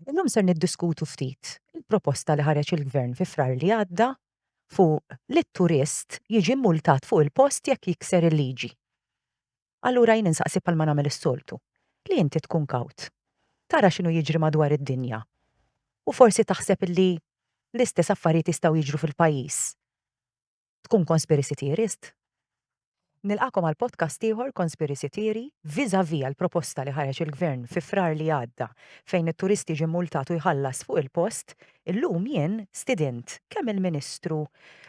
Illum ser niddiskutu ftit il-proposta li ħareġ il-Gvern fi Frar li għadda fuq li t-turist jiġi mmultat fuq il-post jekk jikser il-liġi. Allura jien insaqsi bħalma nagħmel is-soltu, li inti tkun kawt, tara x'inhu jiġri madwar id-dinja u forsi taħseb li l-istess affarijiet jistgħu jiġru fil-pajjiż. Tkun conspiracy theorist? Nilqagħkom għal podcast ieħor Conspiracy Theory vis-a-vis għall-proposta li ħareġ il-Gvern fi Frar li għadda fejn it-turist jiġi mmultat u jħallas fuq il-post, illum jien stidint kemm il-Ministru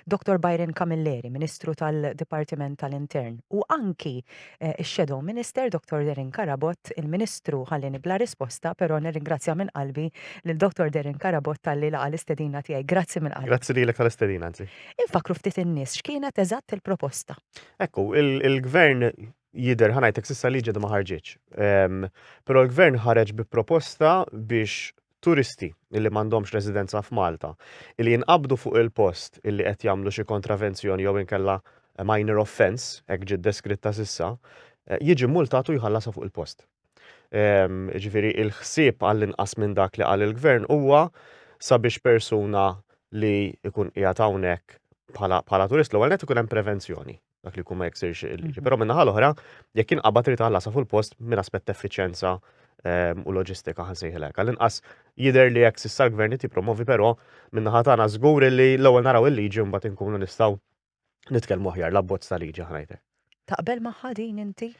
Dr. Byron Camilleri, Ministru tal-Dipartiment tal-Intern, u anki x-Shadow Minister Dr. Darren Carabott, il-Ministru ħallieni bla risposta, però nirringrazzja minn qalbi lil Dr. Darren Carabott talli laqa' l-istedina tiegħi. Grazzi minn qalbi. Grazzi lilek tal-istedina, anzi. Infakkru ftit in-nies x'kienet eżatt il-proposta. Hekk hu, il-Gvern jidher ħa ngħidlek s'issa liġi għadha ma ħarġitx. Ehm, però l-Gvern ħareġ bi proposta biex turisti li m'għandhomx residenza f'Malta li jinqabdu fuq il-post illi qed jagħmlu xi kontravenzjoni jew inkella minor offense, hekk ġiet deskritta s'issa, eh, jiġi multatu jħallasha fuq il-post. Jiġifieri l-ħsieb għall-inqas minn dak li qal il-Gvern huwa sabiex persuna li jkun qiegħed hawnhekk bħala turist l-ewwel nett ikun hemm prevenzjoni dak li jkun ma jiksirx il-liġi. Però min-naħa l-oħra, jekk jinqabad trid tħallasha fuq il-post minn aspett effiċjenza u loġistika ħa nsejħilha hekk. Għall-inqas jidher li hekk s'issa l-Gvern qed jippromovi però min-naħa tagħna żgur li l-ewwel naraw il-liġi u mbagħad inkunu nistgħu Nitkellmu aħjar l-abbozz ta' liġi ħanajtek. Taqbel magħha din inti?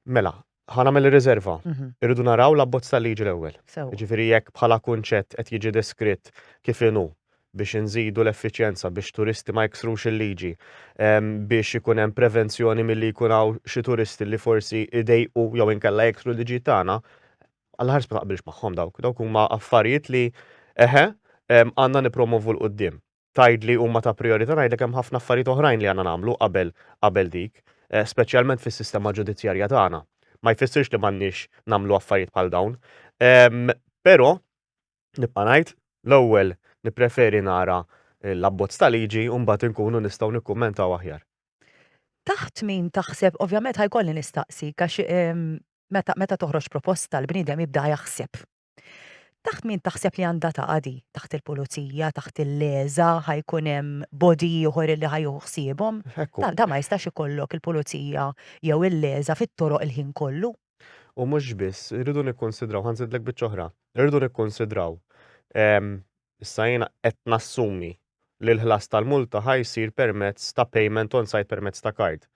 Mela, ħana mill riserva mhm. Irridu naraw l-abbozz ta' liġi l-ewwel. Ġifieri jekk bħala kunċett qed jiġi deskritt kif inhu biex inżidu l-effiċjenza, biex turisti ma jiksrux il-liġi, biex ikun hemm prevenzjoni milli jkun hawn xi turisti li forsi idejqu jew inkella jiksru l-liġi tagħna, għal ħars ma taqbilx magħhom dawk. Dawk huma affarijiet li eħe għandna nipromovu l-qudiem. tgħidli huma ta' prijorità ngħidlek hemm ħafna affarijiet oħrajn li għandna nagħmlu qabel qabel dik, eh, speċjalment fis-sistema ġudizzjarja tagħna. Ma jfissirx li m'għandniex nagħmlu affarijiet bħal dawn. Ehm, però nibqa' ngħid l-ewwel nippreferi nara l-abbozz ta' liġi u mbagħad inkunu nistgħu nikkummentaw aħjar. Taħt min taħseb, ovvjament ħajkolli nistaqsi, għax ehm, meta, meta toħroġ proposta l-bniedem jibda jaħseb Taħt min taħseb li għandha taqadi? Taħt il-pulizija, taħt il-leża, ħajkun hemm bodi ieħor li ħajjuħu ħsiebhom? Da ma jistax ikollok il-pulizija jew il-leża fit-toroq il-ħin kollu. U mhux biss, irridu nikkonsidraw, ħanżidlek biċċa oħra, irridu nikkonsidraw ehm, Issa jiena qed nassumi li l-ħlas tal-multa ħa jsir permezz ta' payment on site permezz ta' kard.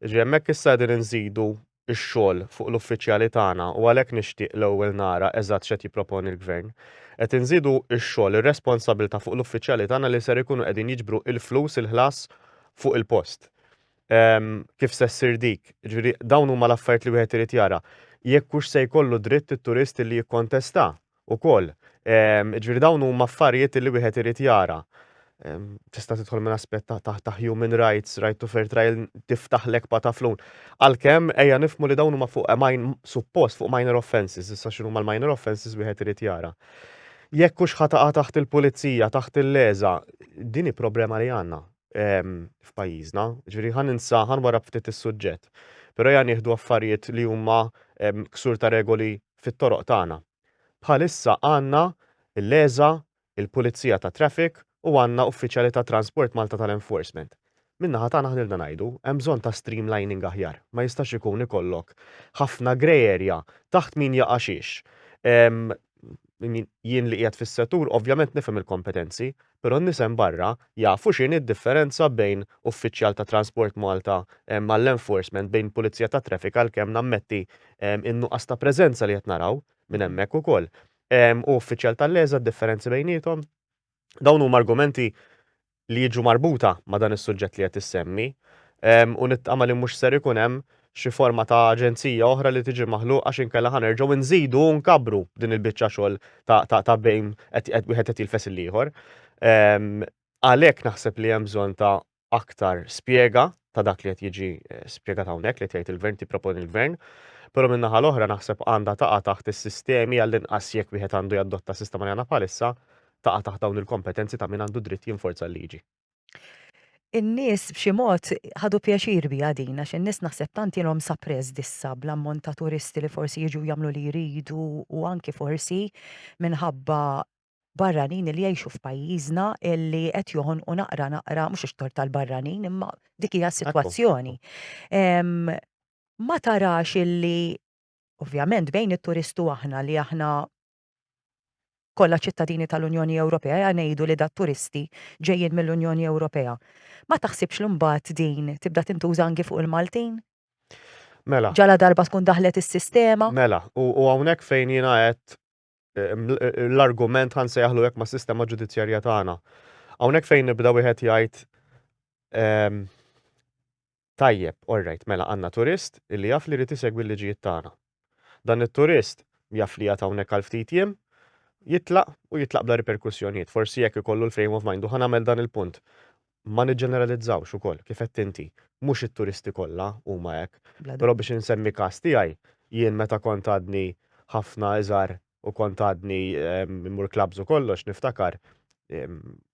Jiġifieri hemmhekk issa qegħdin inżidu x-xogħol fuq l-uffiċjali tagħna u għalhekk nixtieq l-ewwel nara eżatt x'qed jipproponi l-Gvern. Qed inżidu x-xogħol, ir-responsabilità fuq l-uffiċjali tagħna li ser ikunu qegħdin jiġbru l-flus, il-ħlas fuq il-post. Kif se ssir dik? Jiġifieri dawn huma l-affarijiet li wieħed irid jara. Jekk hux se jkollu dritt it-turist li jikkontesta ukoll. Jiġifieri dawn huma affarijiet li wieħed irid jara. Tista' tidħol minn aspett ta' human rights, right to fair trial, tiftaħlek pa' taflun. Għalkemm ejja nifhmu li dawn huma fuq suppost fuq minor offences, issa x'inhuma l-minor offences wieħed irid jara. Jekk hux ħa taqa' taħt il-pulizija, taħt il-leża, din hi problema li għandna f'pajjiżna. Ġifieri ħa ninsa, ħa nwarrab ftit is-suġġett. Però ejja nieħdu affarijiet li huma ksur ta' regoli fit-toroq tagħna. Bħalissa għandna l-ESA, il-Pulizija tat-Traffic u għandna uffiċjali ta' Transport Malta tal-Enforcement. Min-naħa tagħna ħnilna ngħidu, hemm bżonn ta' streamlining aħjar. Ma jistax ikun ikollok ħafna grey area taħt min jaqa' xiex. Jien li qiegħed fis-settur ovvjament nifhem il-kompetenzi, però n-nies hemm barra jafu x'inhi d-differenza bejn uffiċjal ta' Transport Malta għall-enforcement, bejn pulizija tat-traffic għalkemm nammetti n-nuqqas ta' preżenza li qed naraw minn hemmhekk ukoll, u uffiċjal tal-LESA d-differenzi bejniethom. Dawn huma argumenti li jiġu marbuta ma' dan is-suġġett li qed issemmi u nittama li mhux ser ikun hemm xi forma ta' aġenzija oħra li tiġi maħluqa għax inkella ħa nerġgħu nżidu u nkabbru din il-biċċa xogħol ta' bejn wieħed qed jilfes il-ieħor. Għalhekk naħseb li hemm bżonn ta' aktar spjega ta' dak li qed jiġi eh, spjegat hawnhekk li tgħid il-gvern tipproponi l-gvern. Però minn naħa l-oħra naħseb għandha taqa' taħt is-sistemi għall-inqas jekk wieħed għandu jadotta sistema li għandna bħalissa taqa' taħt dawn il-kompetenzi ta' min għandu dritt jinforza l-liġi. In-nies b'xi mod ħadu pjaċir biha din għax in-nies naħseb tant ilhom suppressed issa bl-ammont ta' turisti li forsi jiġu jagħmlu li jridu u anki forsi minħabba barranin li jgħixu f'pajjiżna li qed joħonqu naqra naqra, mhux ix-xtorr tal-barranin imma dik hija s-sitwazzjoni. Ma tarax illi, ovvjament bejn it-turist u aħna li aħna Kollha ċittadini tal-Unjoni Ewropea ngħidu li da turisti ġejjin mill-Unjoni Ewropea. Ma taħsibx li mbagħad din tibda tintuża anki fuq il-Maltin? Mela. Ġala darba tkun daħlet is-sistema? Mela, u hawnhekk fejn jiena għedt l-argument ħa nsejjaħlu hekk mas-sistema ġudizzjarja tagħna. Hawnhekk fejn jibda wieħed jgħid Tajjeb, orrajt, mela għandna turist li jaf li jrid isegwi l-liġijiet tagħna. Dan it-turist jaf li qiegħed hawnhekk għal ftit jiem, jitlaq u jitlaq bla riperkussjonijiet. Forsi jekk ikollu l-frame of mind, u ħa nagħmel dan il-punt, ma niġġeneralizzawx ukoll, kif għedt inti, mhux it-turisti kollha huma hekk. Però biex insemmi każ tiegħi, jien meta kont għadni ħafna iżgħar u kont għadni mmur clubs u kollox niftakar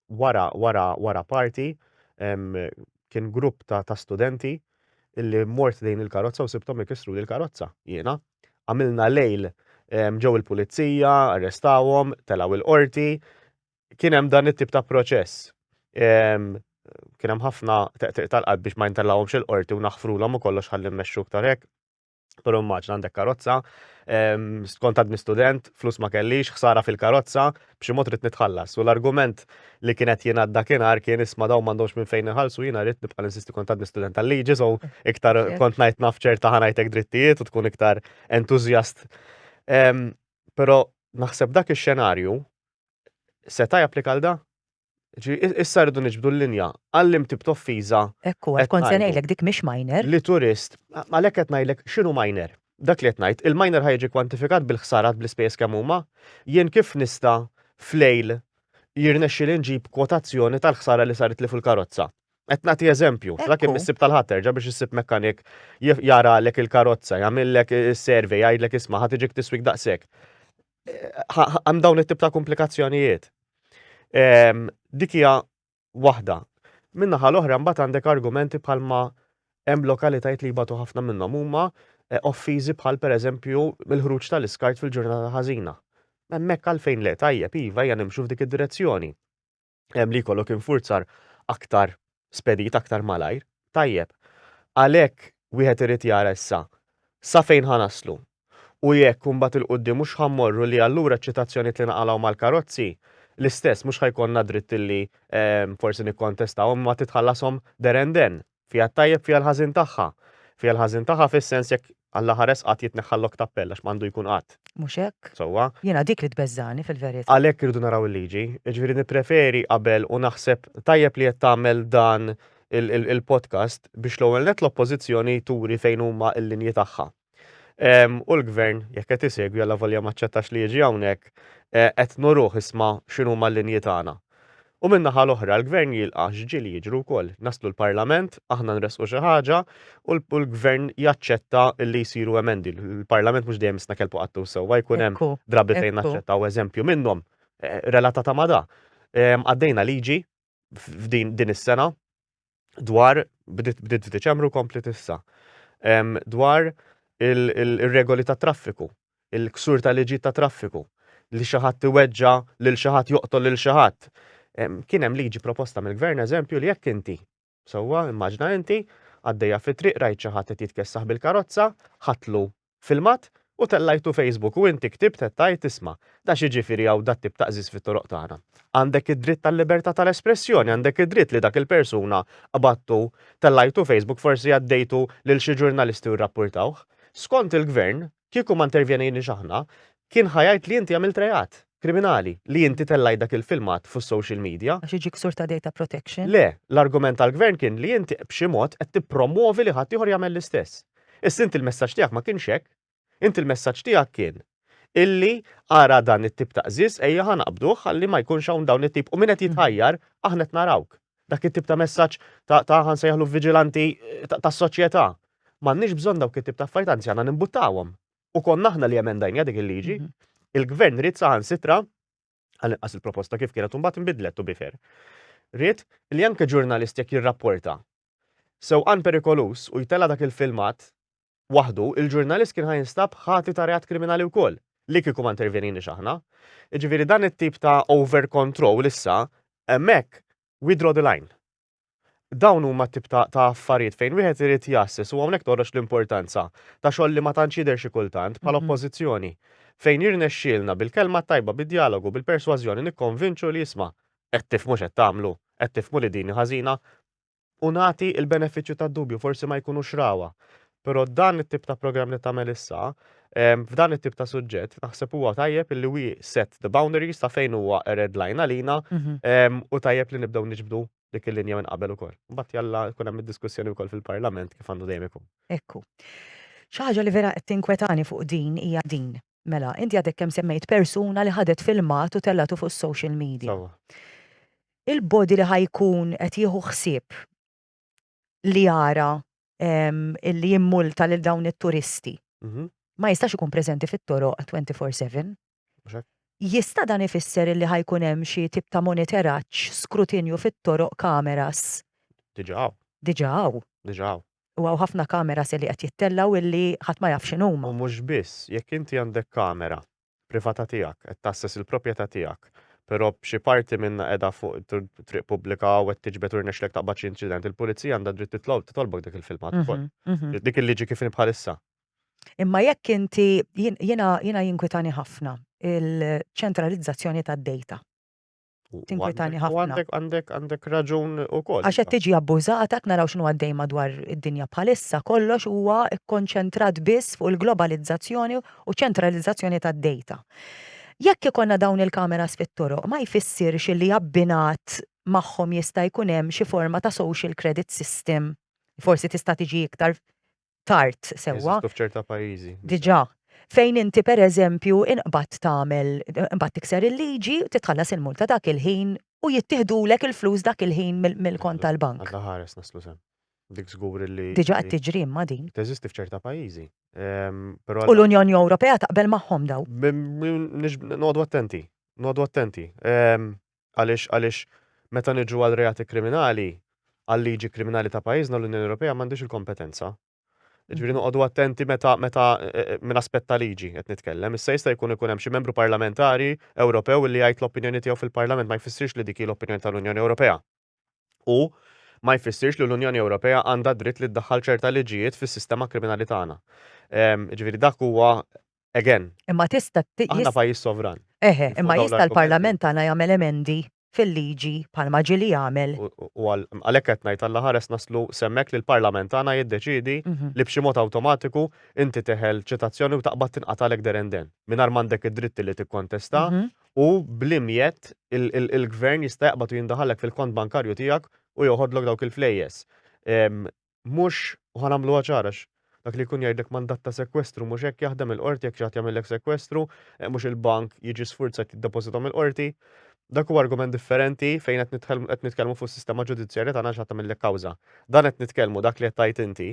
wara wara wara party kien grupp ta' ta' studenti illi mort lejn il-karozza u sibthom ikissru li l-karozza jiena. Għamilna lejl ġew il-pulizija, arrestawhom, telgħu il-qorti. Kien hemm dan it-tip ta' proċess. Kien hemm ħafna teqtiq tal-qalb biex ma jintelgħuhomx il-qorti u naħfrulhom u kollox ħalli mmexxu iktar hekk. Pero maġna għandek karozza, skont għadni student, flus ma kellix, ħsara fil-karozza, b'xi mod rrit nitħallas. U l-argument li kienet jien għadda kienar kien isma daw mandomx minn fejn iħalsu jina rrit nibqa l-insisti kont għadni student tal-liġi, so iktar kont najt nafċer taħanajtek drittijiet u tkun iktar entuzjast. Pero naħseb dak il-xenarju, seta japplika l-da? Ġifieri issa rridu niġbdu l-linja għal lim tip t'offiża qed ngħidu. Hekk hu, għad kont se ngħidlek dik mhix minor. Li turist, għalhekk qed ngħidlek x'inhu minor. Dak li qed ngħid, il-minor ħa jiġi kwantifikat bil-ħsarat bl-ispejjeż kemm huma? Jien kif nista' f'lejl jirnexxieli nġib kwotazzjoni tal-ħsara li saritli fuq il-karozza? Qed nagħti eżempju, tlaq kemm issib tal-Ħadd terġa' biex issib mekkanik jaralek il-karozza, jagħmillek is-survey, jgħidlek isma' ħa tiġik tiswik daqshekk. hemm dawn it-tip ta' komplikazzjonijiet. Ehm, dik hija waħda. Min-naħa l-oħra mbagħad għandek argumenti bħalma hemm lokalitajiet li jbatu ħafna minnhom huma eh, offiżi bħal pereżempju mill-ħruġ tal-iskart fil-ġurnata ħażina. Hemmhekk għalfejn le tajjeb iva hija nimxu f'dik id-direzzjoni. li jkollok infurzar aktar spedit, aktar malajr. Tajjeb, għalhekk wieħed irid jara issa sa fejn ħa naslu u jekk imbagħad il-quddiem mhux ħa mmorru li allura ċ-ċitazzjonijiet li naqalgħu mal-karozzi l-istess mhux ħa jkollna dritt li forsi nikkontestawhom imma titħallashom there and then. Fiha t-tajjeb, fiha l-ħażin tagħha. Fiha l-ħażin tagħha fis-sens jekk Alla ħares qatt jitneħħa l-lok ta' appell għax m'għandu jkun qatt. Mhux hekk? Sewwa. Jiena dik li tbeżżagħni fil-verità. Għalhekk irridu naraw il-liġi. Jiġifieri nippreferi qabel u naħseb tajjeb li qed tagħmel dan il-podcast biex l-ewwel nett l-Oppożizzjoni turi fejn huma l-linji tagħha. U l-Gvern, jekk qed isegwi għalla volja ma ċċettax li jiġi hawnhekk, qed nuruh isma' x'inhuma l-linji tagħna. U min-naħa l-oħra, l-Gvern jilqa' x'ġieli jiġru wkoll. Naslu l-Parlament, aħna nressqu xi ħaġa u l-Gvern jaċċetta li jsiru emendi. Il-Parlament mhux dejjem isna' kelbu qattu sewwa, jkun hemm drabi fejn naċċettaw eżempju minnhom relatata ma' da. Għaddejna liġi f'din is-sena, dwar, bdiet f'Diċembru kompli tissa, dwar il-regoli ta' traffiku, il-ksur ta' liġi ta' traffiku, li xi ħadd iweġġa lil xi ħadd joqtol lil xi ħadd. Kien hemm liġi proposta mill-gvern eżempju li jekk inti, sewwa immaġna inti, għaddejja fit-triq rajt xi ħadd qed jitkessaħ bil-karozza, ħatlu filmat u tellajtu Facebook u inti ktibt qed tgħid isma' da x'jiġifieri hawn dat-tip ta' qżiż fit-toroq tagħna. Għandek id-dritt għal-libertà tal-espressjoni, għandek id-dritt li dak il-persuna qbadtu, tellajtu Facebook, forsi għaddejtu lil xi ġurnalisti u rrappurtawh. Skont il-Gvern, kieku ma intervjenejniex aħna, kien ħa jgħid li inti għamilt reat. Kriminali, li inti tellajt dak il-filmat fus-social media. Għax iġi ksur ta' data protection? Le, l-argument tal-Gvern kien li inti b'xi mod qed tippromwovi li ħaddieħor jagħmel l-istess. Issa inti l-messaġġ tiegħek ma kienx hekk. Inti l-messaġġ tiegħek kien illi ara dan it-tip ta' qżież ejja ħa naqbduh ħalli ma jkunx hawn dawn it-tip u min qed jitħajjar aħna qed narawk. Dak it-tip ta' messaġġ ta' ta' ħa nsejħlu viġilanti tas-soċjetà. M'għandniex bżonn dawk it-tip ta' affarijiet anzi għandna nimbuttawhom. u konna aħna li emendajna dik il-liġi, mhm. il-gvern rrit saħan sitra, għal inqas il-proposta kif kienet imbagħad inbidlet u bifer. Rrit li anke ġurnalist jekk jirrapporta sewqan perikolus u jtella dak il-filmat waħdu, il-ġurnalist kien ħajinstab ħati ta' reat kriminali wkoll li kieku ma intervenini xaħna. Ġifieri dan it-tip ta' over control issa hemmhekk we draw the line. Dawn huma t-tip ta' ta' affarijiet fejn wieħed irid jgħasses u hawnhekk toħroġ l-importanza ta' xogħol li ma tantx jidher xi kultant bħala oppożizzjoni. Fejn jirnexxielna bil-kelma t-tajba, bid-djalogu, bil-persważjoni nikkonvinċu li isma', qed tifhmu x'qed tagħmlu, qed tifhmu li din hi ħażina, u nagħti l-benefiċċju tad-dubju, forsi ma jkunux rawha. Però dan it-tip ta' programm li tagħmel issa, f'dan it-tip ta' suġġett, naħseb huwa tajjeb li we set the boundaries ta' fejn huwa a red line għalina mhm. u tajjeb li nibdew niġbdu dik il-linja minn qabel ukoll. Mbagħad jalla jkun hemm id-diskussjoni wkoll fil-Parlament kif għandu dejjem ikun. Ekku. Xi ħaġa li vera qed tinkwetani fuq din hija din. Mela, inti għadek kemm semmejt persuna li ħadet filmat u tellatu fuq social media. Il-body li ħajkun qed jieħu ħsieb li jara li jimmulta lil dawn it-turisti. Mhm. Ma jistax ikun preżenti fit-toroq 24/7. Jista' dan ifisser li ħajkun hemm xi tip ta' monitoraġġ, skrutinju fit-toroq kameras. Diġà. Diġà hawn. Diġà hawn. U hawn ħafna kameras li qed jittellgħu illi ħadd ma jaf x'inhuma. U mhux biss, jekk inti għandek kamera privata tiegħek, qed tgħasses il-propjeta tiegħek, pero xi parti minnha qiegħda fuq triq pubblika u qed tiġbed u rnexxlek taqbad xi inċident, il-pulizija għandha dritt titlob titolbok dik il-filmat ukoll. Mhm, mhm. Dik il-liġi kif bħalissa. Imma jekk inti jiena jinkwitani ħafna il-ċentralizzazzjoni tad-data. Tinkwitani ħafna. Għandek raġun u koll. Għax qed tiġi abbużata, qed naraw x'inhu għaddej madwar id-dinja bħalissa, kollox huwa kkonċentrat biss fuq il-globalizzazzjoni u ċentralizzazzjoni tad-dejta. Jekk ikollna dawn il-kameras fit-toroq, ma jfissirx li abbinat magħhom jista' jkun hemm xi forma ta' social credit system, forsi tista' tiġi iktar tard sewwa. Jeżistu f'ċerta pajjiżi. Diġà. Fejn inti pereżempju inqbad tagħmel imbagħad tikser il-liġi, titħallas il-multa dak il-ħin u jittiħdulek il-flus dak il-ħin mill-kont tal-bank. Alla ħares naslu sew. Dik żgur li. Diġà qed tiġri imma din. Teżisti f'ċerta pajjiżi. Ehm, u l-Unjoni Ewropea taqbel magħhom daw. Nodu attenti, nodu attenti. Ehm, Għaliex għaliex meta niġu għal reati kriminali, għal-liġi kriminali ta' pajjiżna l-Unjoni Ewropea m'għandhiex il-kompetenza. Jiġifieri noqogħdu attenti meta meta minn aspett ta' liġi qed nitkellem. Issa jista' jkun ikun hemm xi membru parlamentari Ewropew illi jgħid l-opinjoni tiegħu fil-Parlament ma jfissirx li dik hi l-opinjoni tal-Unjoni Ewropea. U ma jfissirx li l-Unjoni Ewropea għandha d-dritt li ddaħħal ċerta liġijiet fis-sistema kriminali tagħna. Jiġifieri dak huwa Again. Imma tista' ti- Aħna jis- pajjiż sovran. Eħe, Fuq imma dawn jista' l-argumenti. l-Parlament tagħna jagħmel emendi fil-liġi bħalma ġieli jagħmel. U- u- u għal- għalhekk qed ngħid alla ħares naslu s'hemmhekk li l-Parlament tagħna jiddeċiedi Mhm. li b'xi mod awtomatiku inti teħel ċitazzjoni u taqbad tinqatagħlek there and then, mingħajr m'għandek id-dritt li tikkontesta Mhm. u bl-imjett il- il- il-Gvern jista' jaqbad u jindaħallek fil-kont bankarju tiegħek u joħodlok dawk il-flejjes. Ehm, mhux, u ħa nagħmluha ċara għax dak li jkun jgħidlek mandat ta' sekwestru mhux hekk jaħdem il-qorti jekk xi ħadd jagħmillek sekwestru, mhux il-bank jiġi sfurzat jiddepożitom il-qorti. Dak huwa argument differenti fejn qed nitħel- qed nitkellmu fuq is-sistema ġudizzjarja tagħna għax ħadd tagħmillek kawża. Dan qed nitkellmu dak li qed tgħid inti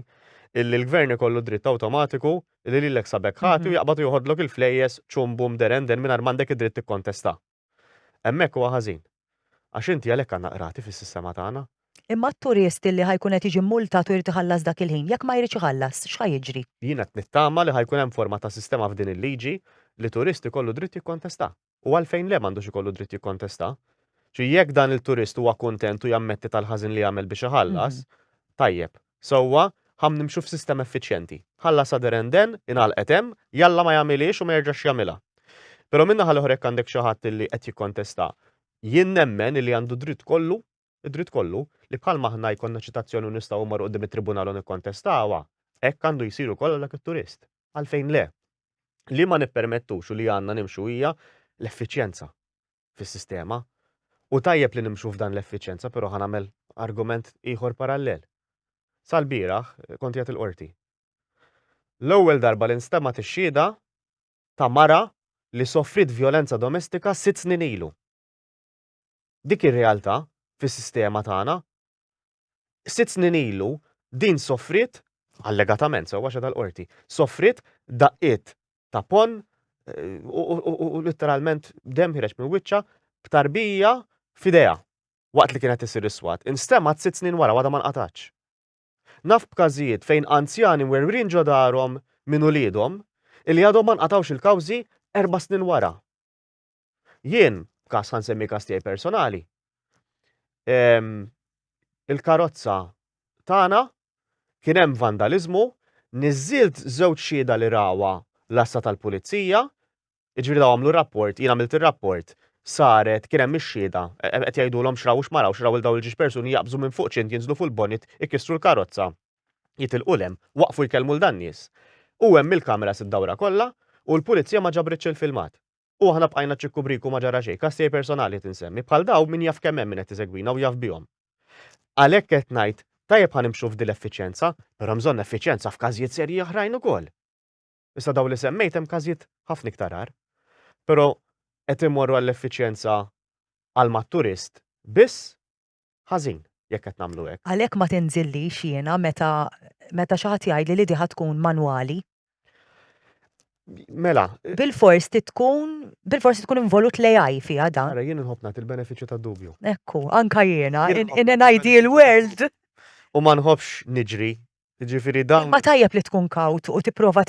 illi l-gvern ikollu dritt awtomatiku li lilek sabek ħati u jaqbad u joħodlok il-flejjes ċum bum derenden mingħajr m'għandek id-dritt tikkontesta. Hemmhekk huwa ħażin. Għax inti għalhekk għandna qrati fis-sistema tagħna. Imma t-turist illi ħa jkun qed jiġi mmultat u jrid iħallas dak il-ħin, jekk ma jridx iħallas, x'ħa jiġri? Jien qed nittama li ħa jkun hemm forma ta' sistema f'din il-liġi li turist ikollu dritt jikkontesta. U għalfejn le m'għandux ikollu dritt jikkontesta? Xi jekk dan il-turist huwa kuntent u jammetti tal-ħażin li għamel biex iħallas, tajjeb. Sewwa, ħa nimxu f'sistem effiċjenti. Ħallasha deren den, ingħalqet hemm, jalla ma jagħmilhiex u ma jerġax jagħmilha. Però min-naħa l-oħra jekk għandek xi ħadd li qed jikkontesta, jien nemmen illi għandu dritt kollu, id-dritt kollu, li bħalma aħna jkollna ċitazzjoni u nistgħu mmorru quddiem it-tribunal u nikkontestawha, hekk għandu jsir ukoll għal dak it-turist. Għalfejn le? Li ma nippermettux u li għandna nimxu hija l-effiċjenza. fis-sistema u tajjeb li nimxu f'dan l-effiċjenza però ħa nagħmel argument ieħor parallel. Sal-bieraħ kont qiegħed il-Qorti. L-ewwel darba li nstemgħet ix-xhieda ta' mara li sofriet vjolenza domestika sitt snin ilu. Dik ir-realtà fis-sistema tagħna sitt snin ilu din soffriet, allegatament, sewwa xeda l-qorti, soffriet daqqiet ta' ponn u literalment dem ħireġ minn wiċċa b'tarbija f'idea waqt li kienet isir iswat. Instemat sitt snin wara għadha ma nqatax. Naf b'każijiet fejn anzjani mwerwrin ġo darhom minn uliedhom illi għadhom ma nqatgħux il-kawżi erba' snin wara. Jien, kas ħan semmi kas tiegħi personali, ehm, il-karozza tagħna kien hemm vandaliżmu, niżilt żewġ xieda li rawa l-assa tal-pulizija, ġifieri daw għamlu rapport, jien għamilt ir-rapport, saret kien hemm ix-xieda, e, e, qed jgħidulhom x'raw x'maraw, x'raw il daw il-ġiex persuni jaqbżu minn fuq ċint jinżlu fuq il-bonit, ikissru l-karozza. jitilqu 'l hemm, waqfu jkellmu 'l dan nies. U hemm il-kameras id-dawra kollha u l-pulizija ma ġabritx il-filmat. U aħna bqajna ċikku briku ma ġara xejn, każ tiegħi personali qed insemmi, bħal dawn min jaf kemm hemm min qed isegwina u jaf bihom. Għalhekk qed ngħid, tajjeb ħa nimxu f'dil effiċjenza, però hemm bżonn effiċjenza f'każijiet serji oħrajn ukoll. Issa dawn li semmejt hemm każijiet ħafna iktar agħar. Però qed immorru għall-effiċjenza għal mat-turist biss ħażin jekk qed nagħmlu hekk. Għalhekk ma tinżillix jiena meta meta xi ħadd jgħidli li di ħa tkun manwali. Mela. Bilfors trid tkun bilfors tkun involut l-AI fiha dan. Ara jien inħobb nagħti l-benefiċċju tad-dubju. Ekku, anka jiena in an ideal world. U ma nħobbx niġri Jiġifieri dan. Imma tajjeb li tkun kawt u tipprova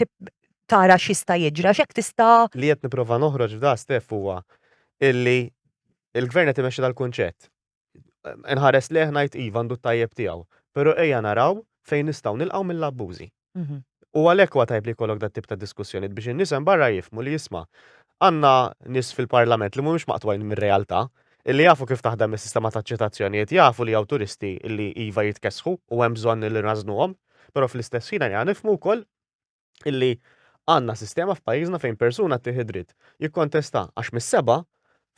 tara x'jista' jiġri għax hekk tista'. Li qed nipprova noħroġ f'dan Steff huwa illi l-Gvern qed imexxi dal-kunċett. Inħares lejh ngħid iva għandu t-tajjeb tiegħu, però ejja naraw fejn nistgħu nilqgħu mill-abbużi. U għalhekk huwa tajjeb li jkollok dat-tip ta' diskussjonijiet biex in-nies hemm barra jifhmu li isma' għandna nies fil-Parlament li mhumiex maqtugħin mir-realtà Illi jafu kif taħdem is-sistema taċ-ċitazzjonijiet jafu li hawn turisti illi iva jitkessħu u hemm bżonn illi nrażżnuhom, però fl-istess ħin ejja nifhmu wkoll illi għandna sistema f'pajjiżna fejn persuna ttih id-dritt jikkontesta għax mis-sebgħa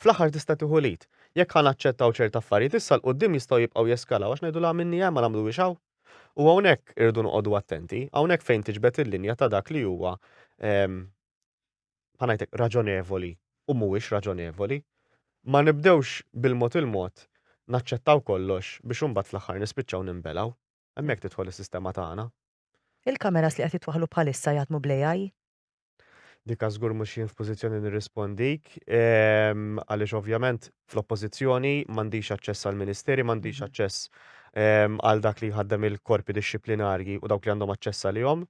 fl-aħħar tista' tieħu lead. Jekk ħa naċċettaw ċert affarijiet issa 'l quddiem jistgħu jibqgħu jeskalaw għax ngħidu la minni hemm ma nagħmluhiex hawn. U hawnhekk irridu noqogħdu attenti, hawnhekk fejn tiġbed il-linja ta' dak li huwa bħal ngħidlek raġonevoli u mhuwiex raġonevoli, ma nibdewx bil-mod il-mod naċċettaw kollox biex imbagħad fl-aħħar nispiċċaw ninbelgħu. Hemmhekk tidħol is-sistema tagħna. Il-kameras li qed jitwaħħlu bħalissa jaħdmu bl-AI? Dika żgur mhux jien f'pożizzjoni nirrispondik, għaliex ovvjament fl-oppożizzjoni m'għandix aċċess għall-ministeri, m'għandix aċċess għal dak li jħaddem il-korpi dixxiplinarji u dawk li għandhom aċċess għalihom.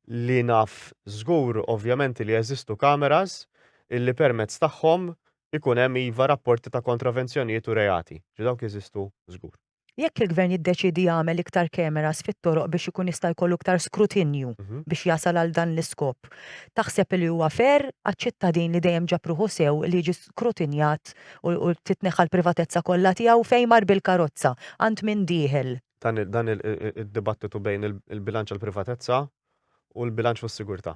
li naf żgur ovvjament li jeżistu cameras illi permezz tagħhom ikun hemm iva rapporti ta' kontravenzjonijiet u reati. Ġi dawk jeżistu żgur. Jekk il-Gvern jiddeċiedi jagħmel iktar cameras fit-toroq biex ikun jista' jkollu iktar skrutinju biex jasal għal dan l-iskop, taħseb li huwa fair għaċ-ċittadin li dejjem ġab ruħu sew li jiġi skrutinjat u titneħħa l-privatezza kollha tiegħu fejn mar bil-karozza, għand min dieħel? dan id-dibattitu bejn il-bilanċ għal privatezza u l-bilanċ fuq sigurtà.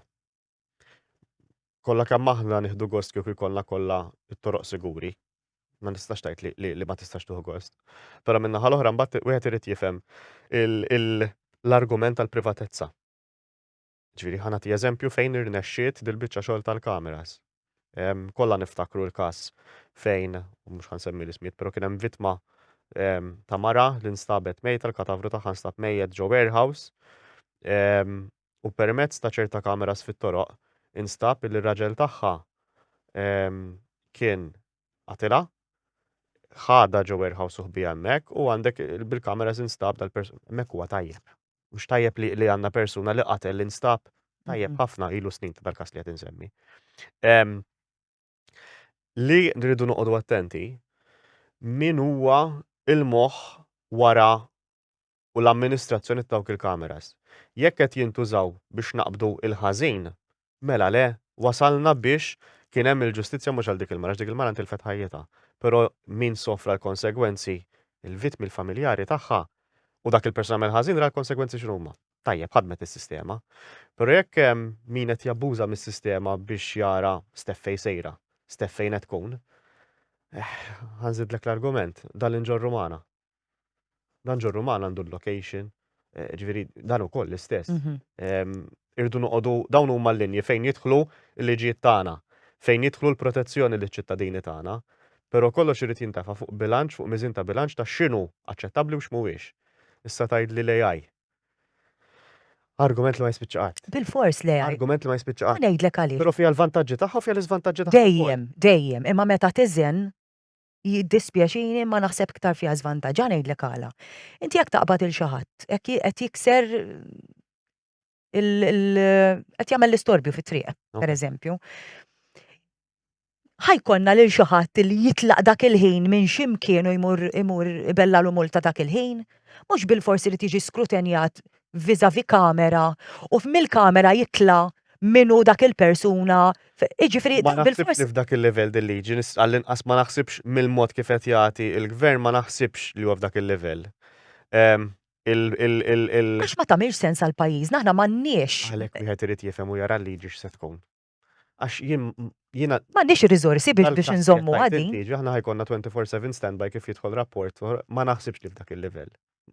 Kollha kemm aħna nieħdu gost kieku jkollna kollha t-toroq siguri. Ma nistax tgħid li, li, ma tistax tuħu gost. Però minna ħal oħra mbagħad wieħed irid jifhem l-argument tal-privatezza. Ġifieri ħa nagħti eżempju fejn irnexxiet dil-biċċa xogħol tal-kameras. Kollha niftakru l-każ fejn, u mhux ħansemmi l-ismijiet, però kien hemm vittma ta' mara li nstabet mejta l-katavru tagħha nstab mejjet ġo warehouse u permezz ta' ċerta kameras fit-toroq instab li r-raġel tagħha kien qatilha ħada ġo warehouse u ħbija hemmhekk u għandek bil-kameras instab dal-persuna hemmhekk huwa tajjeb. Mhux tajjeb li li għandna persuna li qatel li nstab tajjeb Mhm. ħafna ilu snin ta' dal-każ li qed insemmi. Em, Li nridu noqogħdu attenti min huwa il-moħħ wara u l-amministrazzjoni ta' dawk il-kameras. Jekk qed jintużaw biex naqbdu il-ħażin, Mela le, wasalna biex kien hemm il-ġustizzja mhux għal dik il-mara għax dik il-mara ntilfet ħajjitha, però min sofra l-konsegwenzi, il-vittmi, il-familjari tagħha, u dak il-persuna għamel ħażin ra l-konsegwenzi x'inhuma. Tajjeb, ħadmet is-sistema. Però jekk hemm min qed jabbuża mis-sistema biex jara Steph fejn sejra, Steph fejn qed tkun, eh, ħa nżidlek l-argument, dan li nġorru magħna. Dan ġorru man għandu l-location, eh, ġviri dan u koll l-istess. Mhm. Irdu noqodu dawn huma l-linji fejn jidħlu l-liġijiet tagħna, fejn jidħlu l-protezzjoni liċ ċittadini tagħna, però kollox irid jintafa fuq bilanċ, fuq miżin ta' bilanċ ta' x'inhu aċċettabbli u x'mhuwiex. Issa tgħid li l-AI. Argument li ma jispiċċa qatt. Bil-fors le. Argument li ma jispiċċa qatt. Ngħidlek għaliex. Però fiha l-vantaġġi tagħha u fiha l-iżvantaġġi tagħha. Dejjem, dejjem, imma meta tiżen jiddispjaċini ma naħseb ktar fiha żvantaġġa ngħidlek għala. Inti jekk taqbad il xi ħadd, qed jikser qed jagħmel l-istorbju fit-triq, pereżempju. Ħajkonna lil xi ħadd li jitlaq dak il-ħin minn x'imkien u jmur jmur ibella l multa dak il-ħin, mhux bil-forsi li tiġi skrutenjat vizavi kamera u mill-kamera jitla minu dak il-persuna. Iġifri, ma naħsibx f'dak il-level dil-liġi, għall-inqas ma naħsibx mill-mod kif qed jagħti il-gvern ma naħsibx li huwa f'dak il-level. Ehm, Għax ma tamilx sens għal pajjiżna, aħna m'għandniex. Għalhekk wieħed irid jifhem u jara l-liġi x'se tkun. Għax jien jiena. M'għandix ir-riżorsi biex biex inżommu għadi. Aħna ħajkonna 24/7 standby kif jidħol rapport, ma naħsibx li f'dak il-livell.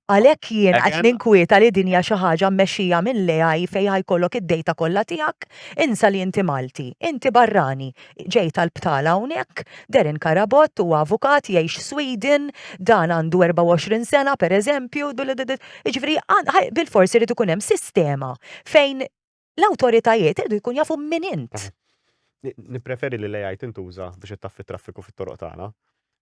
Għalhekk jien qed ninkwieta li din hija xi ħaġa mmexxija mill-AI fejn ħajkollok id-dejta kollha tiegħek, insa li inti Malti, inti barrani, ġej tal-btala hawnhekk, Darren Carabott huwa avukat jgħix Sweden, dan għandu 24 sena pereżempju, jiġifieri bilfors irid ikun hemm sistema fejn L-awtoritajiet iridu jkun jafu min int. Nippreferi li l-AI tintuża biex ittaffi traffiku fit-toroq tagħna.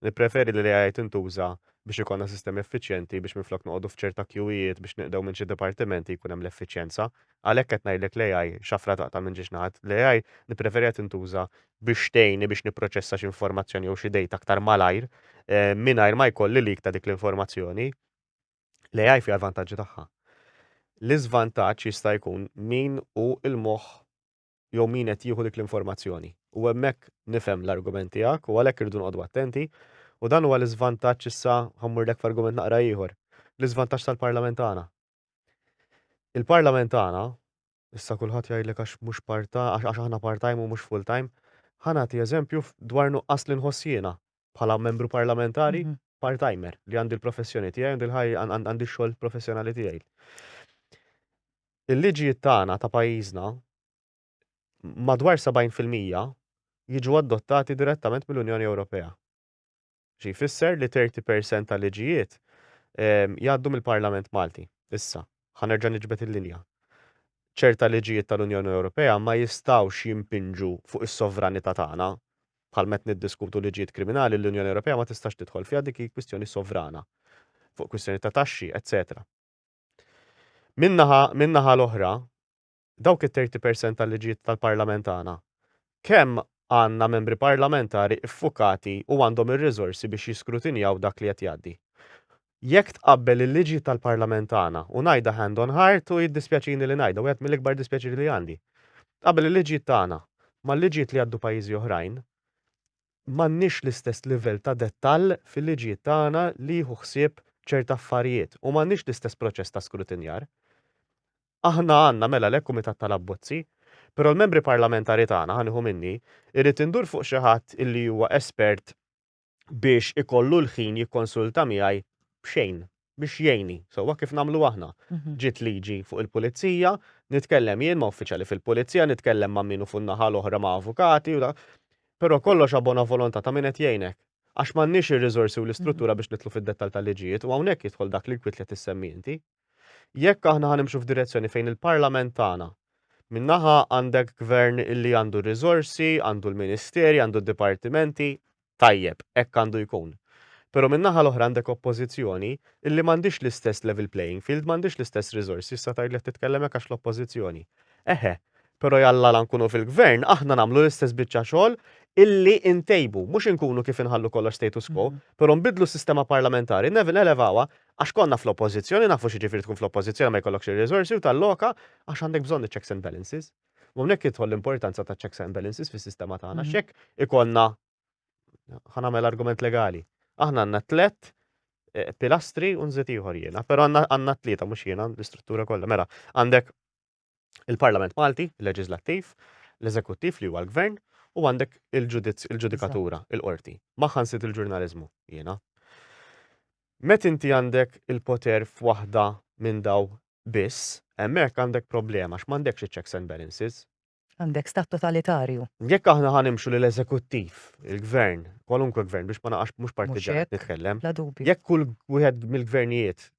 Nippreferi li l-AI tintuża biex ikollna sistemi effiċjenti biex minflok noqogħdu f'ċerta kjuwijiet biex neqdew minn xi dipartimenti jkun hemm l-effiċjenza. Għalhekk qed ngħidlek l-AI xafra taqta' minn ġiex naħat. L-AI nippreferiha tintuża biex tgħinni biex nipproċessa xi informazzjoni jew xi dejta aktar malajr mingħajr ma jkolli leak ta' dik l-informazzjoni. L-AI fiha l-vantaġġi tagħha. L-iżvantaġġ jista' jkun min hu l-moħħ jew min qed jieħu dik l-informazzjoni. U hemmhekk nifhem l-argument tiegħek u għalhekk irridu noqogħdu attenti u dan huwa l-iżvantaġġ issa ħammurlek f'argument naqra ieħor. L-iżvantaġġ tal-Parlament tagħna. Il-Parlament tagħna Issa kulħadd jgħidlek għax mhux part ta', għax aħna part time u mhux full time. Ħa nagħti eżempju dwar nuqqas li nħoss jiena bħala membru parlamentari part timer li għandi l-professjoni tiegħi, għandi l-ħajja, għandi x-xogħol professjonali tiegħi. Il-liġijiet tagħna ta' pajjiżna madwar 70% jiġu adottati direttament mill-Unjoni Ewropea. Xi jfisser li 30 per cent ta' liġijiet jgħaddu mill-Parlament Malti. Issa, ħa nerġa' niġbed il-linja. Ċerta liġijiet tal-Unjoni Ewropea ma jistgħux jimpinġu fuq is-sovranità tagħna. Bħal meta niddiskutu liġijiet kriminali l-Unjoni Ewropea ma tistax tidħol fiha dik hi kwistjoni sovrana fuq kwistjoni ta' taxxi, eċċetera. Min-naħa l-oħra, dawk it-thirty percent tal-liġijiet tal-Parlament tagħna, kemm għandna membri parlamentari ffukati u għandhom ir-riżorsi biex jiskrutinjaw dak li qed jgħaddi. Jekk tqabbel il-liġijiet tal-Parlament tagħna, u ngħidha hand on heart u jiddispjaċini li ngħidha, wieħed mill-ikbar dispjaċir li għandi, tqabbel il-liġijiet tagħna mal-liġijiet li jgħaddu pajjiżi oħrajn, m'għandniex l-istess livell ta' dettall fil-liġijiet tagħna li jieħu ħsieb ċerti affarijiet u m'għandniex l-istess proċess ta' skrutinjar. Aħna għandna mela le kumitat tal-abbozzi, però l-membri parlamentari tagħna, ħa nieħu minni, irrid indur fuq xi ħadd li huwa espert biex ikollu l-ħin jikkonsulta miegħi b'xejn. biex jgħinni, sewwa kif nagħmlu aħna. Ġiet liġi fuq il-pulizija, nitkellem jien ma' uffiċjali fil-pulizija, nitkellem ma' min hu fuq in-naħa l-oħra ma' avukati u da. Però kollox a bona volontà ta' min qed jgħinek. Għax m'għandniex ir-riżorsi u l-istruttura biex nidħlu fid-dettall tal-liġijiet u hawnhekk jidħol dak l-inkwiet li qed issemmi inti. Jekk aħna ħa nimxu f'direzzjoni fejn il-Parlament tagħna Minn naħa għandek gvern li għandu r-riżorsi, għandu l-ministeri, għandu d-dipartimenti, Tajjeb, hekk għandu jkun. Però min-naħa l-oħra għandek Oppożizzjoni illi m'għandhiex l-istess level playing field, m'għandhiex l-istess riżorsi, issa tgħidli qed titkellem hekk għax l-Oppożizzjoni. Eħe, però jalla la nkunu fil-Gvern aħna nagħmlu l-istess biċċa xogħol illi ntejbu, mhux inkunu kif inħallu kollox status quo, però nbiddlu s-sistema parlamentari, nelevawha, għax konna fl-Oppożizzjoni, nafu x'jiġifieri tkun fl-Oppożizzjoni ma jkollokx ir-riżorsi u talloka għax għandek bżonn iċ-checks and balances. U hawnhekk jidħol l-importanza ta' checks and balances fis-sistema tagħna. Mhm. X'hekk ikollna ħanamel argument legali. Aħna għandna tlet eh, pilastri u nżid ieħor jiena, però għandna tlieta mhux jiena l-istruttura kollha. Mela, għandek il-Parlament Malti, il-Leġislattiv, l-Eżekuttiv li huwa l-Gvern, u għandek il-ġudikatura, il-qorti. Maħan sit il-ġurnalizmu, jena. Met inti għandek il-poter f'waħda minn daw biss, hemmhekk għandek problema għax m'għandekx iċ-checks and balances. Għandek stat totalitarju. Jekk aħna ħa nimxu lil eżekuttiv, il-gvern, kwalunkwe gvern biex ma naqax mhux partiġan nitkellem. Jekk kull wieħed mill-gvernijiet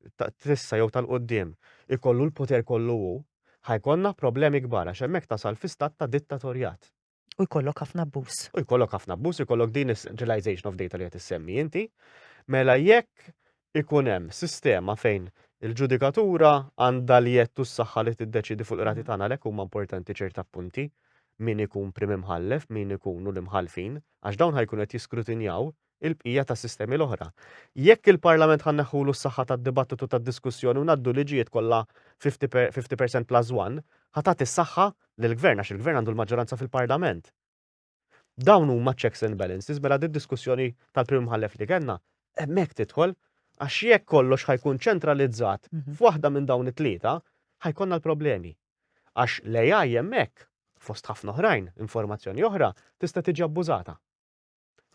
trissa jew tal-qudiem ikollu l-poter kollu hu, ħajkonna problemi kbar għax hemmhekk tasal fi stat ta' dittatorjat. U jkollok ħafna abbuż. U jkollok ħafna abbuż, jkollok din is-centralization of data li qed issemmi inti. Mela jekk ikun hemm sistema fejn il-ġudikatura għandha li jettu s-saħħa li tiddeċidi fuq il-rati mm. tagħna għalhekk huma importanti ċerta punti min ikun prim imħallef, min ikunu l-imħallfin, għax dawn ħajkun qed jiskrutinjaw il-bqija tas-sistemi l-oħra. Jekk il-Parlament ħa nneħħulu s-saħħa tad-dibattitu tad-diskussjoni u ngħaddu liġijiet kollha 50 percent plus one, ħa tagħti s-saħħa lill-Gvern għax il-Gvern għandu l-maġġoranza fil-Parlament. Dawn huma checks and balances mela d-diskussjoni tal-Prim Imħallef li kellna hemmhekk tidħol għax jekk kollox ħa jkun ċentralizzat mhm. f'waħda minn dawn it-tlieta ħajkonna l-problemi. Għax l-AI hemmhekk fost ħafna oħrajn, informazzjoni oħra, tista' tiġi abbużata.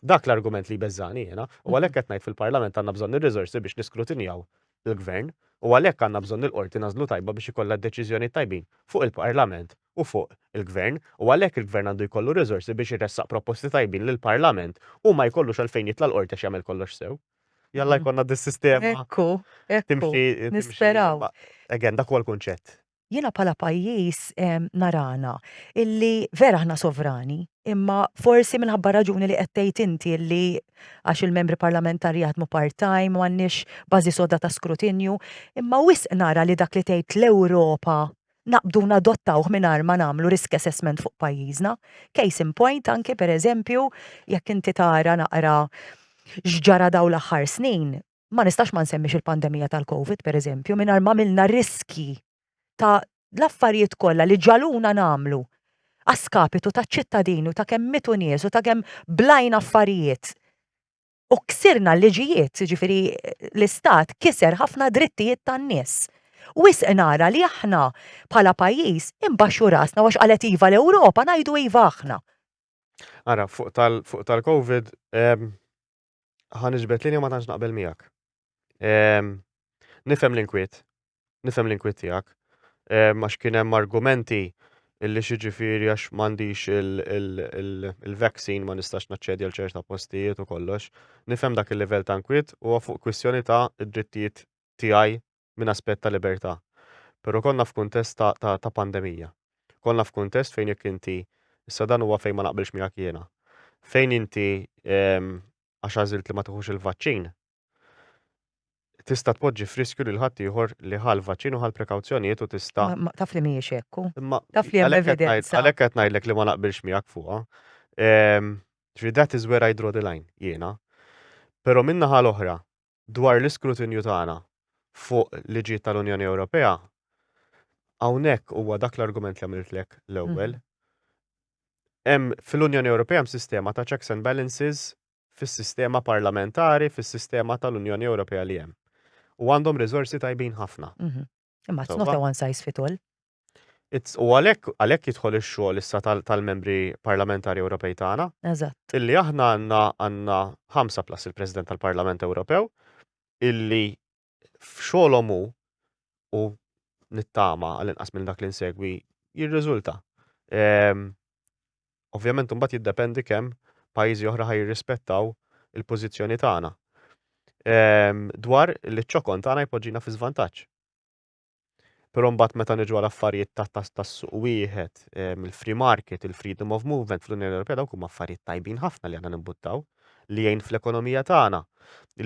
Dak l-argument li jbeżżani jiena, u għalhekk qed ngħid fil-Parlament għandna bżonn ir-riżorsi biex niskrutinjaw il-Gvern u għalhekk għandna bżonn il-Qorti nagħżlu tajba biex ikollha d-deċiżjonijiet tajbin fuq il-Parlament u fuq il-Gvern u għalhekk il-Gvern għandu jkollu r-riżorsi biex iressaq proposti tajbin lill-Parlament u ma jkollux għalfejn jitla' l-Qorti għax jagħmel kollox sew. Jalla jkollna dis-sistema timxi. Ekku, ekku, nisperaw. Again, dak huwa l-kunċett. jiena bħala pajjiż narana illi vera aħna sovrani, imma forsi minħabba raġuni li qed tgħid inti li għax il-membri parlamentari jaħdmu part-time, m'għandniex bażi soda ta' skrutinju, imma wisq nara li dak li tgħid l-Ewropa naqbdu nadottawh mingħajr ma nagħmlu risk assessment fuq pajjiżna. Case in point anki pereżempju jekk inti tara naqra x'ġara dawn l-aħħar snin, Ma nistax ma nsemmix il-pandemija tal-Covid, per eżempju, mingħajr ma milna riskji ta' l-affarijiet kollha li ġaluna nagħmlu għaskapitu ta' ċittadini u ta' kemm mitu nies u ta' kemm blajn affarijiet. U ksirna l-liġijiet, ġifiri l-istat kiser ħafna drittijiet tan-nies. Wis nara li aħna bħala pajjiż imbaxxu rasna għax qalet iva l-Ewropa ngħidu iva aħna. Ara, fuq tal-Covid, ehm, ħan iġbet linja ma tantx naqbel miegħek. Ehm, nifhem l-inkwiet, nifhem l-inkwiet tiegħek, ehm, għax kien hemm argumenti illi xiġifieri għax m'għandix il-vaccine ma nistax naċċedi għal ċerta postijiet u kollox. Nifhem dak il-livell ta' nkwiet u fuq kwistjoni ta' id-drittijiet tiegħi minn aspett ta' libertà, però konna f'kuntest ta' ta' ta' pandemija. Konna f'kuntest fejn jekk inti, issa dan huwa fejn ma naqbilx miegħek jiena, fejn inti għax għażilt li ma tiħux il-vaċċin, tista' tpoġġi f'riskju lil ħaddieħor li ħa l-vaċċin u ħa l-prekawzjonijiet u tista'. Ma ma taf li mhijiex hekk hu. Imma Taf li hemm għalhekk qed ngħid- evidenza. għalhekk qed ngħidlek li ma naqbilx miegħek fuqha. Ehm, Ġifieri that is where I draw the line jiena. Però min-naħa l-oħra, dwar l-iskrutinju tagħna fuq liġijiet tal-Unjoni Ewropea, hawnhekk huwa dak l-argument li għamiltlek l-ewwel. Hemm fil-Unjoni Ewropea hemm sistema ta' checks and balances fis-sistema parlamentari, fis-sistema tal-Unjoni Ewropea li hemm. U għandhom riżorsi tajbin ħafna. Imma it's not a one size fit all. U għalhekk għalhekk jidħol ix-xogħol issa tal-membri parlamentari Ewropej tagħna. Eżatt. Illi aħna għandna għandna ħamsa plus il-President tal-Parlament Ewropew illi f'xogħolhom hu u nittama għal inqas minn dak li nsegwi jirriżulta. Ehm, Ovvjament imbagħad jiddependi kemm pajjiżi oħra ħa jirrispettaw il-pożizzjoni tagħna ehm, dwar li ċ-ċokon tagħna jpoġġina fi żvantaġġ. Però mbagħad meta niġu għal affarijiet tas-suq wieħed, ehm, il-free market, il-freedom of movement fl-Unjoni Ewropea dawk huma affarijiet tajbin ħafna li aħna nimbuttaw li jgħin fl-ekonomija tagħna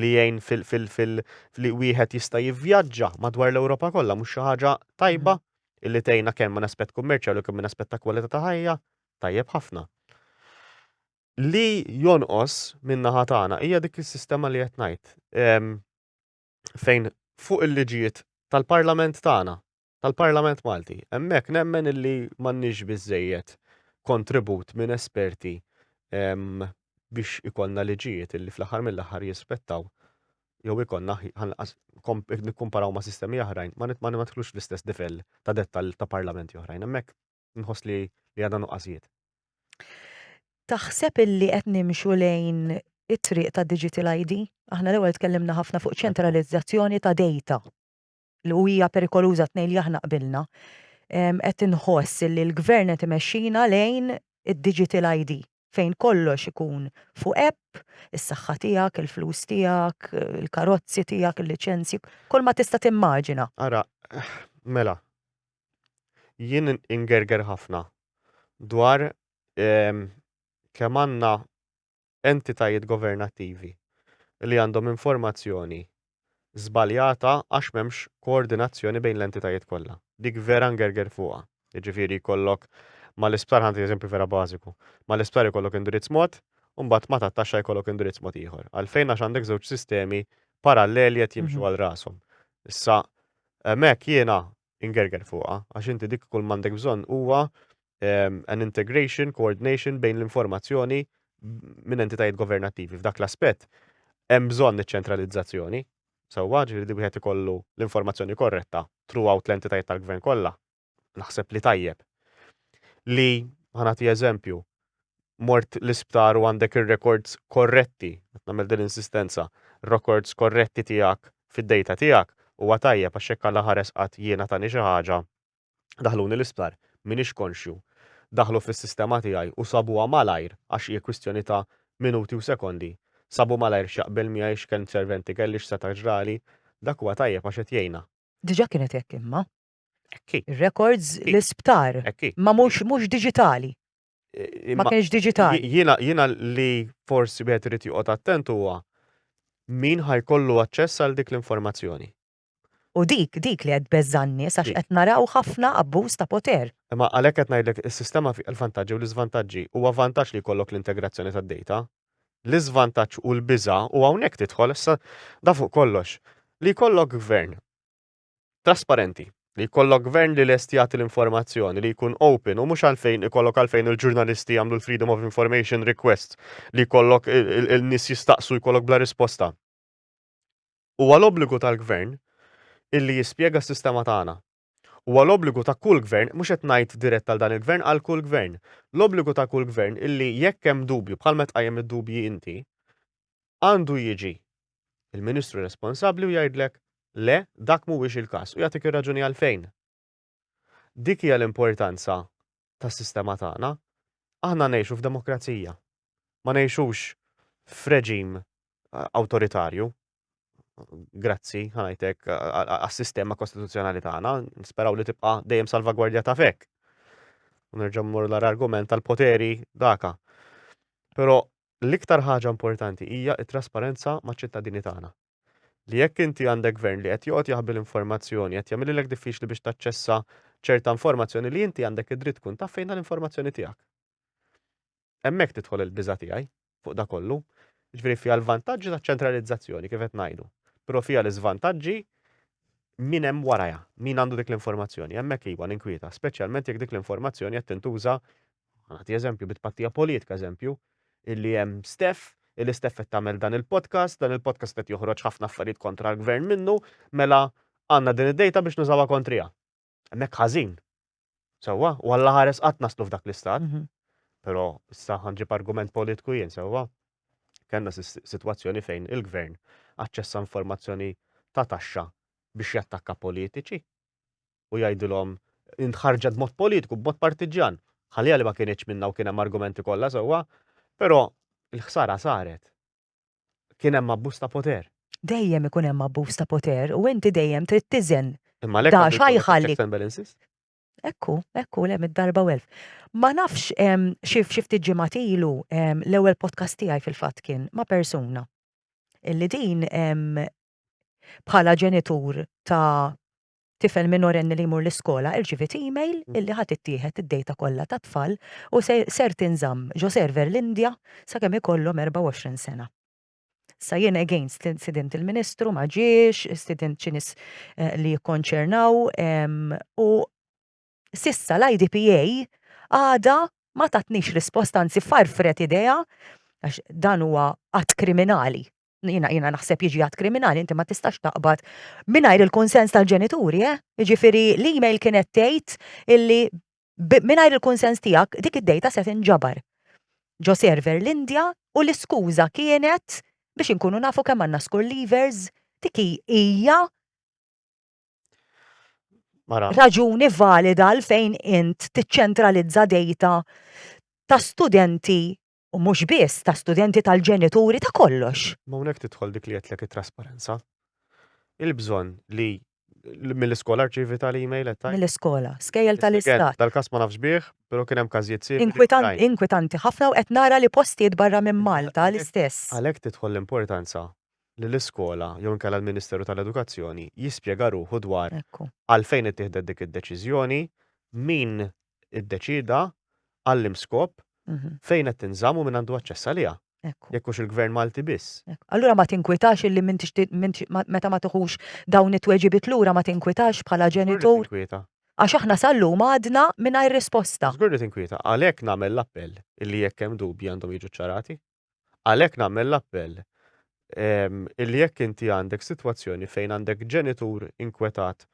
li jgħin fil-fil li wieħed jista' jivvjaġġa madwar l-Ewropa kollha mhux xi ħaġa tajba. Mm-hmm. illi tgħinna kemm minn aspett kummerċjali u kemm minn aspett ta' kwalità ta' ħajja tajjeb ħafna. Li jonqos minn naħa tagħna hija dik is-sistema li qed ngħid ehm, fejn fuq il-liġijiet tal-Parlament tagħna, tal-Parlament Malti, hemmhekk nemmen illi m'għandniex biżejjed kontribut minn esperti ehm, biex ikollna liġijiet illi fl-aħħar mill-aħħar jispettaw jew ikonna ħanqas nikkumparaw ma' sistemi oħrajn, ma nidħlux l-istess difel ta' dettal ta' parlamenti oħrajn. Hemmhekk nħoss li li għadha nuqqasijiet. Taħseb illi qed nimxu lejn it-triq ta' digital ID? Aħna l-ewwel tkellimna ħafna fuq ċentralizzazzjoni ta' data. li u hija perikoluża tnejn li aħna qbilna, qed inħoss li l-gvern qed imexxina lejn id-digital ID fejn kollox ikun fuq app, is-saħħa tiegħek, il-flus tiegħek, il-karozzi tiegħek, il-liċenzji, kull ma tista' timmaġina. Ara, mela, jien ingerger ħafna dwar kemm għandna entitajiet governattivi li għandhom informazzjoni żbaljata għax m'hemmx koordinazzjoni bejn l-entitajiet kollha. Dik vera ngerger fuqha. Jiġifieri jkollok mal-isptar ħa nagħti eżempju vera bażiku. Mal-isptar ikollok indirizz mod u mbagħad ma' tat-taxxa jkollok indirizz mod ieħor. Għalfejn għax għandek żewġ sistemi paralleli qed jimxu għal rashom. Issa hemmhekk jiena ingerger fuqha, għax inti dik kull m'għandek bżonn huwa ehm, an integration, coordination bejn l-informazzjoni minn entitajiet governattivi. F'dak l-aspett hemm bżonn iċ-ċentralizzazzjoni, sewwa ġifieri li wieħed ikollu l-informazzjoni korretta throughout l-entitajiet tal-gvern kollha. Naħseb li tajjeb. Li ħanati eżempju, mort l-isptar u għandek ir-rekords korretti, qed nagħmel din l-insistenza, rekords korretti tiegħek fid-dejta tiegħek, huwa tajjeb għax jekk Alla ħares qatt jiena tani xi ħaġa, daħluni l-isptar, m'iniex konxju, daħlu fis-sistema tiegħi u sabuha malajr għax hi kwistjoni ta' minuti u sekondi, sabu malajr x'jaqbel miegħi, x'kelm serventi kelli, x'seta' ġrali, dak huwa tajjeb għax qed jgħinna. Diġà kienet hekk imma, Ekki. Records l-isptar. Ekki. Ma mhux mhux diġitali. Eh, ma kienx diġitali. Jiena jiena li forsi wieħed irid joqgħod attent huwa min ħajkollu aċċess għal dik l-informazzjoni. U dik, dik li għed bezzanni, sax qed naraw ħafna abbuż ta' poter. Ma għalhekk qed ngħidlek is-sistema fi l-vantaġġi u l-iżvantaġġi huwa vantaġġ li jkollok l-integrazzjoni tad-data. L-iżvantaġġ u l-biża u hawnhekk tidħol issa da fuq kollox li jkollok gvern trasparenti, li jkollok gvern li lest jagħti l-informazzjoni, li jkun open u mhux għalfejn ikollok għalfejn il-ġurnalisti jagħmlu l-freedom of information request li jkollok il-nies jistaqsu jkollok bla risposta. Huwa l-obbligu tal-gvern illi jispjega s-sistema tagħna. Huwa l-obbligu ta' kull gvern, mhux qed ngħid dirett għal dan il-gvern, għal kull gvern. L-obbligu ta' kull gvern illi jekk hemm dubju bħal meta tqajjem id-dubji inti, għandu jiġi l-Ministru responsabbli u jgħidlek le, dak mhuwiex il-każ u jagħtik ir-raġuni għalfejn. Dik hija l-importanza tas-sistema tagħna. Aħna ngħixu f'demokrazija. Ma ngħixux f'reġim awtoritarju. Grazzi, ħanajtek, għas-sistema kostituzzjonali tagħna, nisperaw li tibqa' dejjem salvagwardja ta' fek. Nerġa' mmur l-argument tal-poteri daka. Però l-iktar ħaġa importanti hija t-trasparenza maċ-ċittadini tagħna. Li jekk inti għandek gvern li qed joqgħod jaħbi l-informazzjoni, qed jagħmililek diffiċli biex taċċessa ċerta informazzjoni li inti għandek id-dritt tkun taf fejn l-informazzjoni tiegħek. Hemmhekk tidħol il-biża' tiegħi fuq da kollu. Ġifieri fiha l-vantaġġi taċ-ċentralizzazzjoni kif qed ngħidu, però fiha l-iżvantaġġi min hemm warajha, min għandu dik l-informazzjoni, hemmhekk iwa ninkwieta, speċjalment jekk dik l-informazzjoni qed tintuża Nagħti eżempju bi tpattija politika eżempju, illi hemm Steff, illi Steff qed tagħmel dan il-podcast, dan il-podcast qed joħroġ ħafna affarijiet kontra l-gvern minnu, mela għandna din id-dejta biex nużawha kontriha. Hemmhekk ħażin. Sewwa, u alla ħares qatt naslu f'dak l-istat. Mhm. Però issa ħanġib argument politku jien sewwa. Kenna sitwazzjoni fejn il-gvern aċċessa informazzjoni ta' taxxa biex jattakka politiċi. u jgħidilhom intħarġet b'mod politiku, b'mod partiġġan. Ħalija li ma kienx minna u kien hemm argumenti kollha sewwa, però il-ħsara saret. Kien hemm abbuż ta' poter. Dejjem ikun hemm abbuż ta' poter u inti dejjem trid tiżen. Imma lek għandu jħalli. Ekku, ekku, le mid-darba u elf. Ma nafx xif xifti ġimat ilu l-ewwel podcast tiegħi fil-fatt kien ma' persuna. Illi din bħala ġenitur ta' Tifel minorenni li jmur l-iskola irċiviet email illi ħa tittieħed id-dejta kollha tat-tfal u se ser tinżamm ġo server l-Indja sakemm ikollhom 24 sena. Sa jien against li stidimt il-Ministru ma ġiex, stidimt xi nies li jikkonċernaw u s'issa l-IDPA għadha ma tatnix risposta anzi farfret idejha għax dan huwa att kriminali. Jiena jiena naħseb jiġi għad kriminali inti ma tistax taqbad mingħajr il-kunsens tal-ġenituri, eh? Jiġifieri l-email kienet tgħid illi mingħajr il-kunsens tiegħek dik id-dejta se tinġabar ġo server l-Indja u l-iskuża kienet biex inkunu nafu kemm għandna skur levers dik hija raġuni valida għal fejn int tiċċentralizza dejta ta' studenti u mhux biss ta' studenti tal-ġenituri ta' kollox. Ma hawnhekk tidħol dik li għedtlek it-trasparenza. Il-bżonn li mill-iskola rċivi tal-email qed tajt. Mill-iskola, skejjel tal-istat. Tal-każ ma nafx bih, però kien hemm każijiet simili. Inkwitanti ħafna u qed nara li postijiet barra minn Malta l-istess. Għalhekk tidħol l-importanza li l-iskola jew inkella l-Ministeru tal-Edukazzjoni jispjega ruħu dwar għalfejn ittieħdet dik id-deċiżjoni, min iddeċieda għall-im skop fejn qed tinżamm u min għandu aċċess għaliha. Jekk hux il-Gvern Malti biss. Allura ma tinkwitax illi meta ma tiħux dawn it-tweġibiet lura ma tinkwitax bħala ġenitur. Għax aħna sallum għadna mingħajr risposta. Żgur li tinkwita, għalhekk nagħmel l-appell illi jekk hemm dubji għandhom jiġu ċċarati. Għalhekk nagħmel l-appell illi jekk inti għandek sitwazzjoni fejn għandek ġenitur inkwetat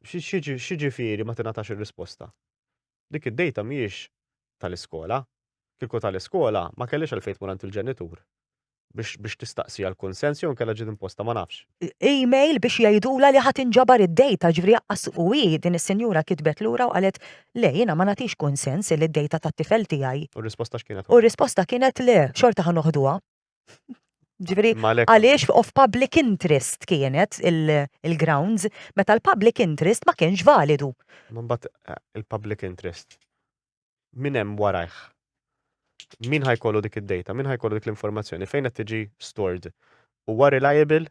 x'jiġifieri ma tingħatax ir-risposta? Dik id-dejta mhijiex tal-iskola. Kieku tal-iskola ma kellhiex għalfejn tmur għand il-ġenitur biex tistaqsi għall-kunsens jew inkella ġiet imposta ma nafx. email biex jgħidula li ħadd inġabar id-data, ġifri jaqqas u hi din is-sinjura kitbet lura u qalet le jiena ma nagħtix kunsens li d-data tat-tifel tiegħi. U r-risposta x'kienet? U r-risposta kienet le, xorta ħa noħduha. Ġifri, għaliex of public interest kienet il-grounds, meta l-public interest ma kienx validu. Imbagħad il-public interest. min hemm warajh? Min ħa jkollu dik id-data? Min ħa jkollu dik l-informazzjoni? Fejn qed tiġi stored? Huwa reliable?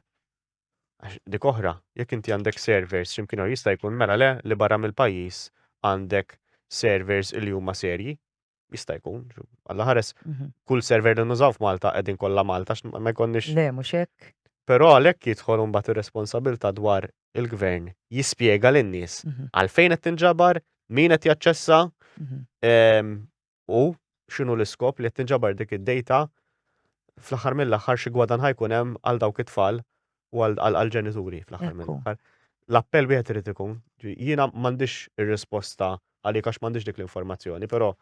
Għax dik oħra, jekk inti għandek servers x'imkien jista' jkun mela le li barra mill-pajjiż għandek servers li huma serji. Jista' jkun, alla ħares, mhm. kull server li nużaw f'Malta qegħdin kollha Malta ma jkollniex. Le, mhux hekk. Però għalhekk jidħol imbagħad ir-responsabilità dwar il-gvern jispjega lin-nies għalfejn qed tinġabar, min qed jaċċessa u x'inhu l-iskop li qed tinġabar dik id-dejta fl-aħħar mill-aħħar xi gwadan ħajkun hemm għal dawk it-tfal u għall-ġenituri fl-aħħar mill-aħħar. L-appell wieħed irid ikun, jiena m'għandix ir-risposta għalik għax m'għandix dik l-informazzjoni, però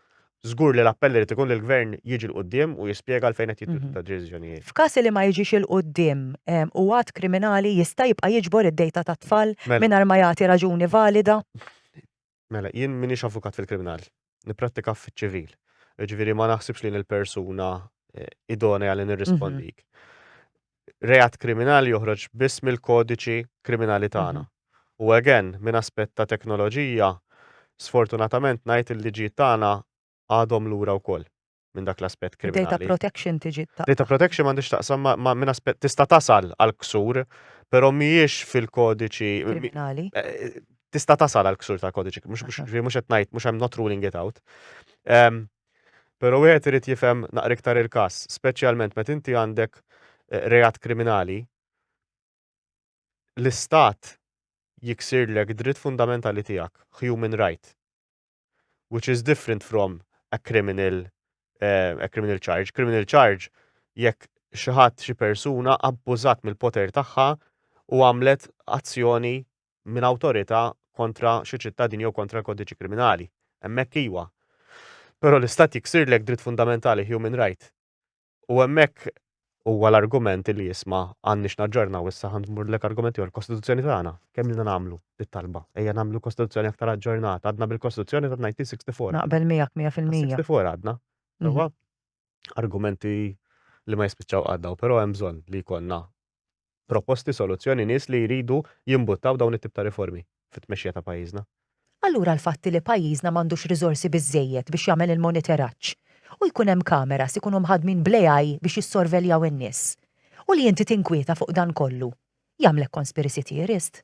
żgur li l-appell irid ikun li l-Gvern jiġi 'l quddiem u jispjega għalfejn qed jittieħdu tad-deċiżjonijiet. F'każ li ma jiġix 'il quddiem, hu att kriminali jista' jibqa' jiġbor id-dejta tat-tfal mingħajr ma jagħti raġuni valida? Mela, jien m'iniex avukat fil-kriminal. Nipprattika fiċ-ċivil. Jiġifieri ma naħsibx li jien il-persuna idonea li nirrispondik. reat kriminali joħroġ biss mill-kodiċi kriminali tagħna. Mhm. U again, minn aspett ta' teknoloġija, sfortunatament ngħid il-liġijiet tagħna għadhom lura wkoll minn dak l-aspett kriminali. Data protection tiġi ta' Data protection m'għandix taqsam ma' minn aspett tista' tasal għal ksur, però mhijiex fil-kodiċi kriminali. Eh, eh, tista' tasal għal ksur tal-kodiċi, mhux qed ngħid, mhux hemm not ruling it out. Ehm, Pero wieħed irid jifhem naqra iktar il-każ, speċjalment meta inti għandek reat kriminali, l-istat jiksirlek dritt fundamentali tiegħek, human right, which is different from a criminal, uh, a criminal charge. Criminal charge jekk xi ħadd xi persuna abbużat mill-poter tagħha u għamlet azzjoni minn awtorità kontra xi ċittadin jew kontra l-kodiċi kriminali. Hemmhekk iwa. Però l-istat jiksirlek dritt fundamentali human right. U hemmhekk huwa l-argument li jisma' għandniex naġġornaw issa ħan murlek argument ieħor kostituzzjoni tagħna. Kemm ilna nagħmlu bit-talba? Ejja nagħmlu kostituzzjoni aktar aġġornata, għadna bil-kostituzzjoni ta' 1964. Naqbel miegħek 100%. 64 għadna. Mhm. argumenti li ma jispiċċaw qatt dawn, però hemm bżonn li jkollna proposti, soluzzjoni, nies li jridu jimbuttaw dawn it-tip ta' riformi fit-tmexxija ta' pajjiżna. Allura l-fatt li pajjiżna m'għandux riżorsi biżżejjed biex jagħmel il-monitoraġġ u jkun hemm cameras ikunu mħaddmin bl-AI biex jissorveljaw in-nies u li inti tinkwieta fuq dan kollu, jagħmlek conspiracy theorist?